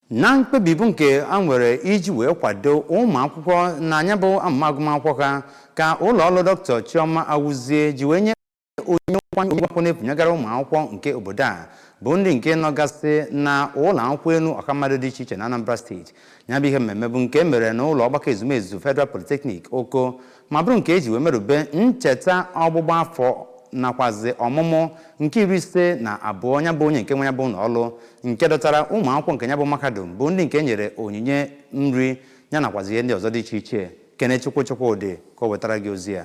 na mkpebi bụ nke e nwere iji wee kwado ụmụ akwụkwọ na ya bụ amụma agụmakwụkwọ ha ka ụlọ ọrụ Doctor Chioma Awuzie ji wee nye onyinye akwụkwọ n'efu nyegara ụmụ akwụkwọ nke obodo a bụ ndị nke nọgasị na ụlọ akwụkwọ elu ọha mmadụ dị iche iche na Anambra steeti ya bụ ihe mmemme bụ nke e mere na ụlọ ọgbakọ ezumezu Federal Polytechnic Oko ma bụrụ nke e ji wee merube ncheta ọgbụgba afọ nakwazi ọmụmụ nke iri ise na abụọ ya bụ onye nke nwe ya bụ ụlọọrụ nke dọtara ụmụ akwụkwọ nke ya bụ mahadum bụ ndị nke e nyere onyinye nri yanakwazi ihe ndị ọzọ dị iche iche Kenechukwu Chukwudị ka o wetara gị ozi ya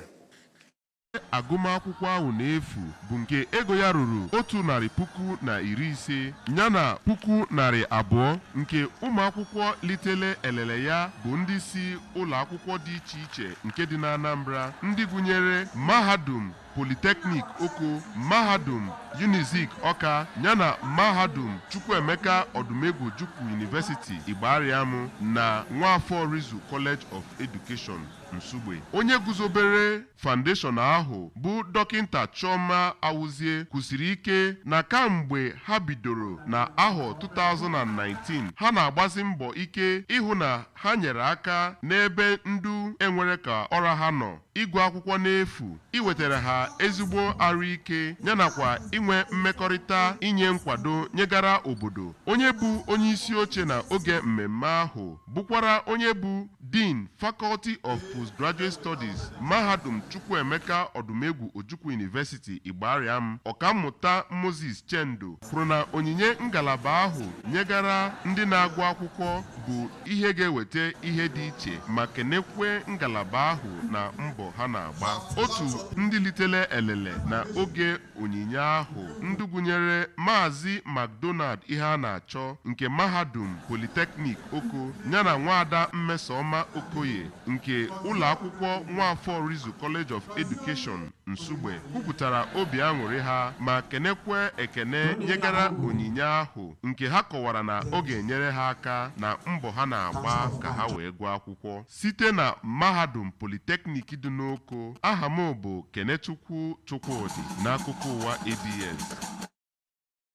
agụmakwụkwọ ahụ n'efu bụ nke ego ya ruru otu narị puku na iri ise yana puku narị abụọ nke ụmụakwụkwọ litele elele ya bụ ndị si ụlọ akwụkwọ dị iche iche nke dị n'Anambra ndị gụnyere Mahadum Polytechnic Oko, Mahadum Unizik Ọka yana Mahadum Chukwuemeka Odumegwu Ojukwu University Igbariam na Nwafor Orizu College of Education Nsugbe. Onye guzobere foundation ahụ bụ Dọkịnta Chioma Awuzie kwusiri ike na kamgbe ha bidoro na ahọ 2019, ha na-agbazi mbọ ike ịhụ na Ha nyere aka n'ebe ndị enwerọ ka ọ ra ha nọ, ịgụ akwụkwọ n'efu, iwetara ha ezigbo arụ ike, yanakwa inwe mmekọrịta inye nkwado nyegara obodo. Onye bụ onye isi oche na oge mmemme ahụ bụkwara onye bụ Dean, Faculty of Postgraduate Studies, Mahadum Chukwuemeka Odumegwu Ojukwu University, Igbariam, Ọkammụta Moses Chendo. kwuru na onyinye ngalaba ahụ nyegara ndị na-agụ akwụkwọ bụ ihe ga-eweta ihe dị iche ma kenekwe ngalaba ahụ na mbọ ha na-agba otu ndị litele elele na oge onyinye ahụ ndị gụnyere maazị McDonald Iheanachọ nke mahadum Polytechnic Oko yana nwaada Mmesoma Okoye nke ụlọ akwụkwọ Nwafor Orizu College of Education Nsugbe kwupụtara obi aṅụrị ha ma kenekwe ekene nyegara onyinye ahụ nke ha kọwara na ọ ga-enyere ha aka na mbọ ha na-agba ka ha wee gụọ akwụkwọ site na Mahadum Polytechnic dị n'Oko. Aha m bụ Kenechukwu Chukwudị n'akụkọ ụwa ABS.